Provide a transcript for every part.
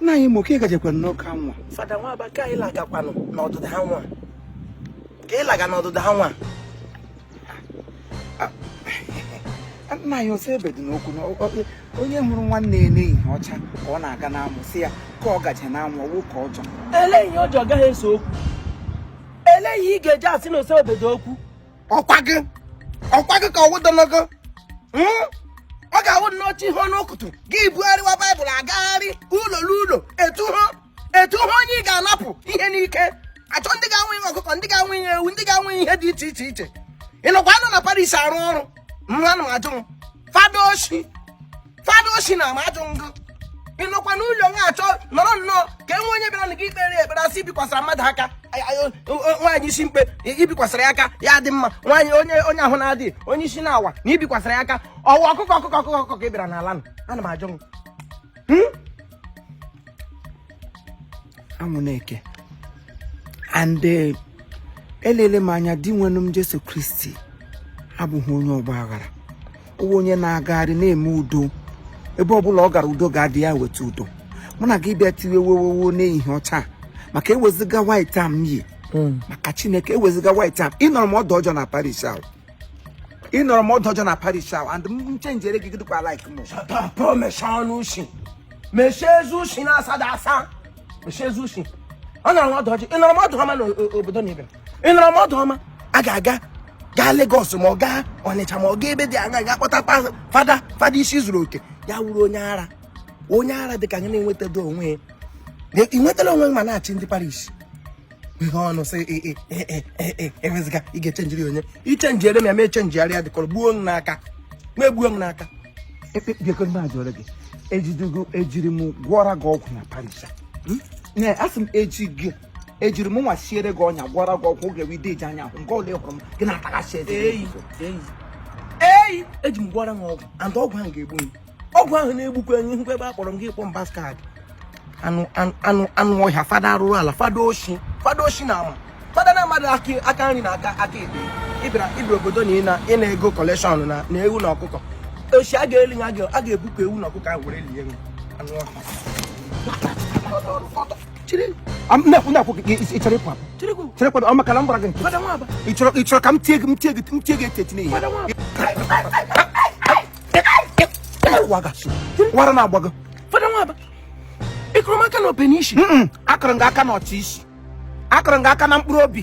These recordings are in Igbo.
nna anyị ma ka ị gajekwa n'ụka nwa fada nwaba ka anyị lagakwanụ n'odudu ha nwa ka ị laga n'odudu ha nwa nna anyị ose obodo n'okwu na ọ- ọ- onye hụrụ nwanne ya n'ehihie ọcha ka ọ na-aga n'anwụ sị ya ka ọ gaje n'anwụ ọ wụ ụka ọjọọ ele ihe ọjọọ gaghị ese okwu ele ihe ị ga-eji asị na ose obodo okwu ọkwa gị ọkwa gị ka ọwụdologo hmm? ọ ga-awụ n'oche ihe ọnụ ụtụtụ gị bugharịwa baịbụl agagharị ụlọ n'ụlọ etu ha etu ha onye ị ga-anapụ ihe n'ike achọ ndị ga-anwụ ihe ọkụkọ ndị ga-anwụ ihe ewu ndị ga-anwụ ihe dị iche iche iche ị nọkwa anọ na parish arụ ọrụ ana m ajụ fada oshi fada oshi ana m ajụ ngụ ị nọkwa n'ụlọ nwa achọ nọrọ nnọọ ka enwe onye bịara na gị ikpere ya ekpere asị ibikwasara mmadụ aka Ay- ay- o- o- nwaanyị isi mkpe i- ibikwasara ya aka ya dị mma nwaanyị onye onye ahụ na-adịghị onye isi na-awa na ibikwasara ya aka ọ wụ ọkụkọ ọkụkọ ọkụkọ ọkụkọ ka ị bịara n'ala nụ ana m ajụ ngụ anwụ na-eke and eh, elele m anya dinwenụ m jesu kristi abụghị onye ọgba aghara ọ wụ onye na-agagharị na-eme udo ebe ọ bụla ọ gara udo ga-adị ya weta udo mụ na gị bịa tiwe wewewo n'ehihie ọcha maka ewezuga white a m yi hmm. maka chineke ewezuga white a m ị nọrọ m ọdụ ọjọọ na parish ahụ ị nọrọ m ọdụ ọjọọ na parish ahụ and m chenjere gị dịkwa like m mechie ọnụ ushi mechie eze ushi na-asada asa mechie eze ushi ọ nọrọ m ọdụ ọjọọ ị nọrọ m ọdụ ọma n'obodo na ibe ị nọrọ m ọdụ ọma a ga-aga gaa Lagos ma ọ gaa Ọnịcha ma ọ gaa ebe dị anya gaa kpọta fada fada isi zuru oke ya wụrụ onye ara onye ara dị ka gị na-enwetado onwe ya ị nwetara onwe ma na-achị ndị parish ihe ọnụ sị ewezuga ị ga-echenjiri onye i chenjiere m ya ma echenjigharịa dịkọrọ gbuo m n'aka ma egbuo m n'aka bịakọrọ gị ejidugo ejiri m gwọra gị ọgwụ na parish a sị m eji gị ejiri m nwa siere gị ọnya gwọra gị ọgwụ oge wide iji anya ahụ nke ole hụrụ m gị na-ataghachi eze eyi eyi eji m gwọra m ọgwụ and ọgwụ ahụ ga-egbu m ọgwụ ahụ na-egbukwa enyi hụkwa ebe a kpọrọ m gị kpọ m bastard anụ anụ anụ ọhịa fada arụrụ ala fada oshi fada oshi na ama fada na-amadị aka nri na aka aka ekpe ị bịara ị bịara obodo na ịna ịna ego kọlekshọn na na ewu na ọkụkọ oshi a ga-eli ya a ga-ebupụ ewu na ọkụkọ ahụ were lie anụ ọhịa cherekwa ọ maka na m gbara gị nkịtị ị chọrọ ị chọrọ ka m tie gị m tie gị m tie gị eti eti n'ihi ọ wụ ara na-agba gị fada nwaba ị kụrụ m aka n'ope n'isi akụrụ m gị aka n'ọchị isi akụrụ m gị aka na mkpụrụ obi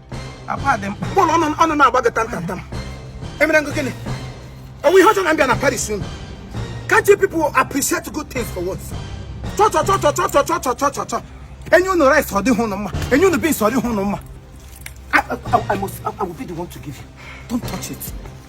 akwa dị mkpụrụ ọnụ ọnụ na-agba gị tantantam emere m gị gịnị ọ wụ ihe ọjọọ na m bịa na parish unu can't you people appreciate good things for once chọchọchọ e nye unu rice ọ dịghị unu mma e nye unu beans ọ dịghị unu mma I, I, I, I must, I, I will be the one to give you. Don't touch it.